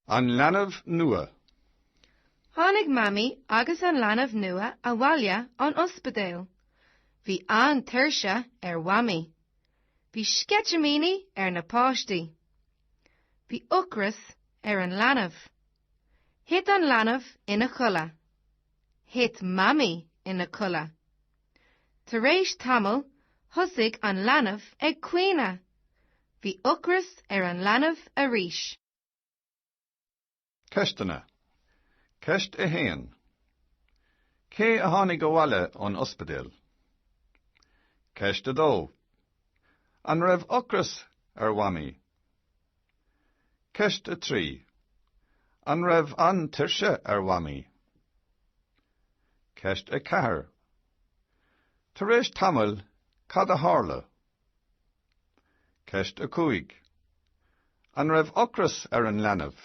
An leanbh nua. Tháinig Mamaí agus an leanbh nua abhaile ón ospidéal. Bhí an-tuirse ar Mhamaí. Bhí sceitimíní ar na páistí. Bhí ocras ar an leanbh. Thit an leanbh ina chodladh. Thit Mamaí ina codladh. Tar éis tamaill thosaigh an leanbh ag caoineadh. Bhí ocras ar an leanbh arís. Ceisteanna. Ceist 1. Cé a tháinig abhaile ón ospidéal? Ceist 2. An raibh ocras ar Mhamaí? Ceist 3. An raibh an-tuirse ar Mhamaí? Ceist 4. Tar éis tamaill, cad a tharla? Ceist 5 An raibh ocras ar an leanbh?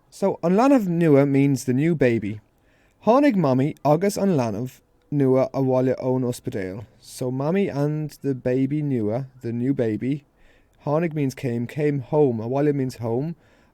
So, an leanbh nua means the new baby. Tháinig Mamaí agus an leanbh nua abhaile ón ospidéal. So, Mamaí and the baby nua, the new baby, Tháinig means came, came home, abhaile means home,